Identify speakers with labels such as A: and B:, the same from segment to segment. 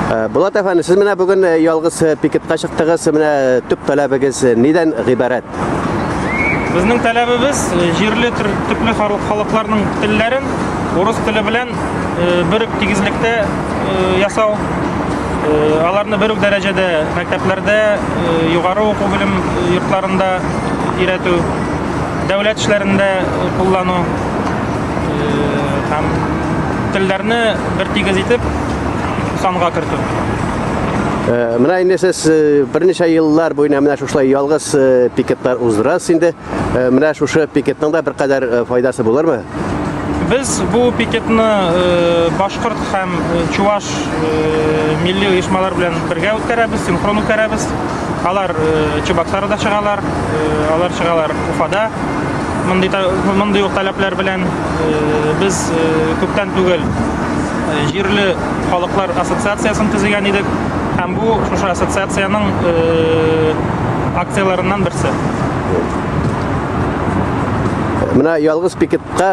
A: Э, Булат әфәнде, сез менә бүген э, ялгыз э, пикетка чыктыгыз, менә төп таләбегез нидән гыйбарәт?
B: Безнең таләбебез җирле төпле халыкларның телләрен урыс теле белән бер үк тигезлектә ясау, аларны бер үк дәрәҗәдә мәктәпләрдә, югары уку белем йортларында өйрәтү, дәүләт эшләрендә куллану. һәм телләрне бер тигез итеп санга кертү. Э,
A: менә инде сез э, берничә еллар буена менә шушылай ялгыз э, пикетлар уздырасыз инде. Менә шушы пикетның да беркадәр файдасы булырмы? Без
B: бу пикетны башкорт һәм чуваш милли оешмалар белән бергә үткәрәбез, синхрон үткәрәбез. Алар Чебоксарда чыгалар, алар чыгалар Уфада, Мондый мондый ук таләпләр белән э, без э, күптән түгел э, җирле халыклар ассоциациясен төзегән идек һәм бу шушы ассоциациянең акцияләреннән берсе.
A: Менә ялгыз пикетка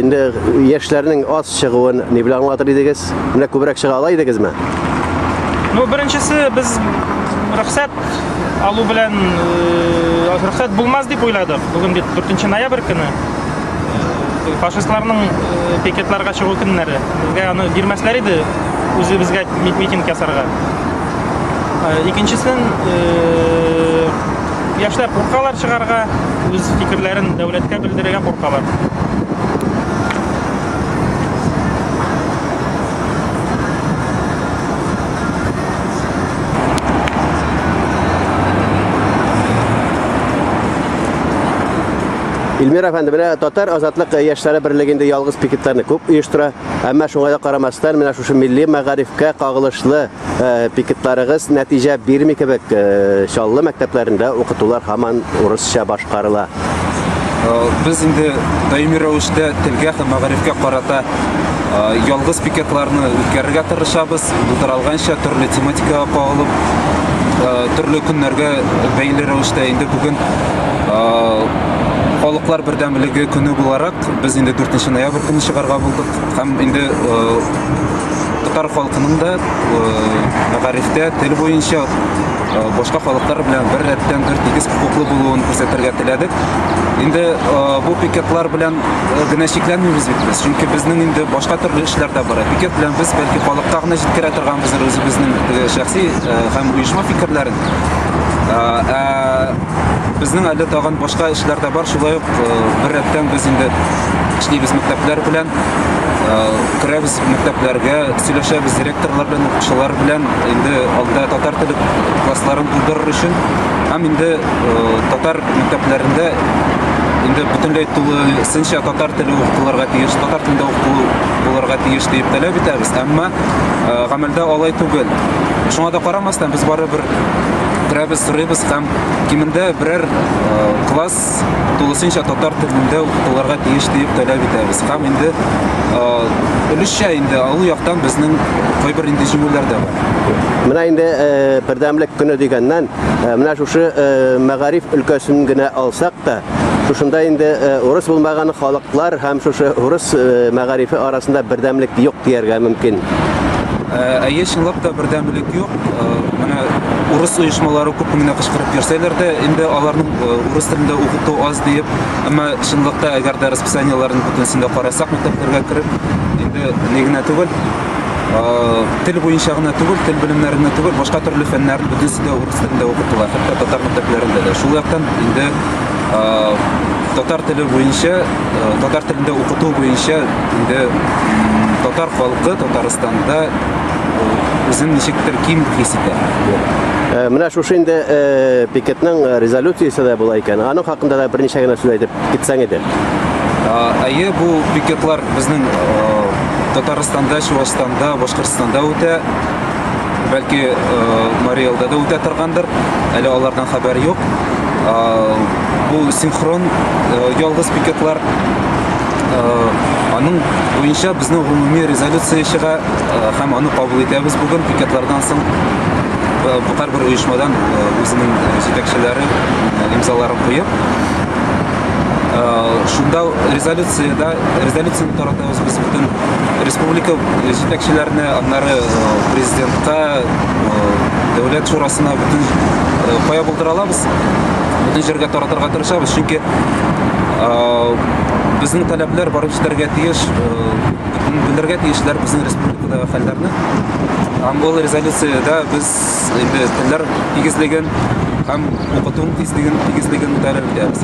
A: инде яшьләрнең аз чыгуын ни белән аңлатыр идегез? Менә күбрәк чыга ала идегезме? Ну,
B: беренчесе без рөхсәт алу белән э, рөхсәт булмас дип уйладык. Бүген бит 4 ноябрь көне. Э, фашистларның э, пикетларга чыгу көннәре. Безгә аны бирмәсләр иде үзебезгә митинг ясарга. Икенчесен яшьләр куркалар чыгарга, үз фикерләрен дәүләткә белдерергә куркалар.
A: Эльмир әфәнде, менә татар азатлык яшьләре берлегендә ялгыз пикетларны күп оештыра. Әмма шуңа да карамастан, менә шушы милли мәгарифкә кагылышлы э, пикетларыгыз нәтиҗә бирми кебек. Э, Чаллы мәктәпләрендә укытулар һаман урысча башкарыла. Э,
C: без инде даими рәвештә телгә һәм мәгарифкә карата э, ялгыз пикетларны үткәрергә тырышабыз булдыралганча төрле тематикага кагылып э, төрле көннәргә бәйле рәвештә инде бүген халыклар бердәмлеге көне буларак без инде 4 ноябрь көне чыгарга булдык һәм инде татар халкының да мәгарифтә тел буенча э, башка халыклар белән бер рәттән бер тигез хокуклы булуын күрсәтергә теләдек. Инде э, бу пикетлар белән э, генә чикләнмибез бит без, чөнки безнең инде башка төрле эшләр дә бар. Пикет белән без бәлки халыкка гына җиткерә торганбыз үзебезнең шәхси һәм оешма фикерләрен. Безнең әле тагын башка эшләр дә бар, шулай ук бер рәттән без инде эшлибез мәктәпләр белән, керәбез мәктәпләргә, сөйләшәбез, редакторлар белән укучылар белән инде алда татар теле классларын булдырыр өчен һәм инде татар мәктәпләрендә инде бөтенләй тулысынча татар теле укытылырга тиеш татар телендә укытылу булырга тиеш дип таләп итәбез әмма гамәлдә алай түгел шуңа да карамастан без барыбер керәбез сорыйбыз һәм кимендә берәр класс тулысынча татар телендә укытылырга тиеш диеп таләп итәбез. Һәм инде өлешчә инде алу яктан безнең кайбер инде җиңүләр дә бар. Менә инде
A: бердәмлек көне дигәннән, менә шушы мәгариф өлкәсен генә алсак та, шушында инде урыс булмаган халыклар һәм шушы урыс мәгарифе арасында бердәмлек юк дияргә мөмкин.
C: Әйе, чынлап та бердәмлек юк. Менә урыс оешмалары күп кенә кычкырып йөрсәләр дә, инде аларның урыс телендә укыту аз диеп, әмма чынлыкта әгәр дә расписаниеләрен бөтенесен дә карасак мәктәпләргә кереп, инде ни генә түгел, тел буенча гына түгел, тел белемнәренә түгел, башка төрле фәннәрне бөтенесе дә урыс телендә укытыла, хәтта татар мәктәпләрендә дә. Шул яктан инде татар теле буенча, татар телендә укыту буенча инде татар халкы Татарстанда Үзен ничектер ким хис итә. Э, менә шушы инде
A: э, пикетның э, резолюциясе дә була икән. Аның хакында да берничә генә сүз әйтеп китсәң иде. Әйе,
C: бу пикетлар безнең Татарстанда, Чувашстанда, Башкортстанда үтә. Бәлки Марий Элда да үтә торгандыр. Әле алардан хәбәр юк. Бу синхрон ялгыз пикетлар. Аның буенча безнең гомуми резолюция чыга. Һәм аны кабул итәбез бүген пикетлардан соң һәрбер оешмадан үзенең җитәкчеләре имзаларын куеп шунда резолюцияда резолюцияны таратабыз без бөтен республика җитәкчеләренә аннары президентка дәүләт шурасына бөтен кая булдыра алабыз бөтен җиргә таратырга тырышабыз чөнки безнең таләпләр барып җитәргә тиеш М, Белергә тиешләр безнең республикадагы хәлләрне. Һәм ул резолюциядә без инде телләр тигезлеген һәм укытуның тизлеген, тигезлеген күтәреп итәбез.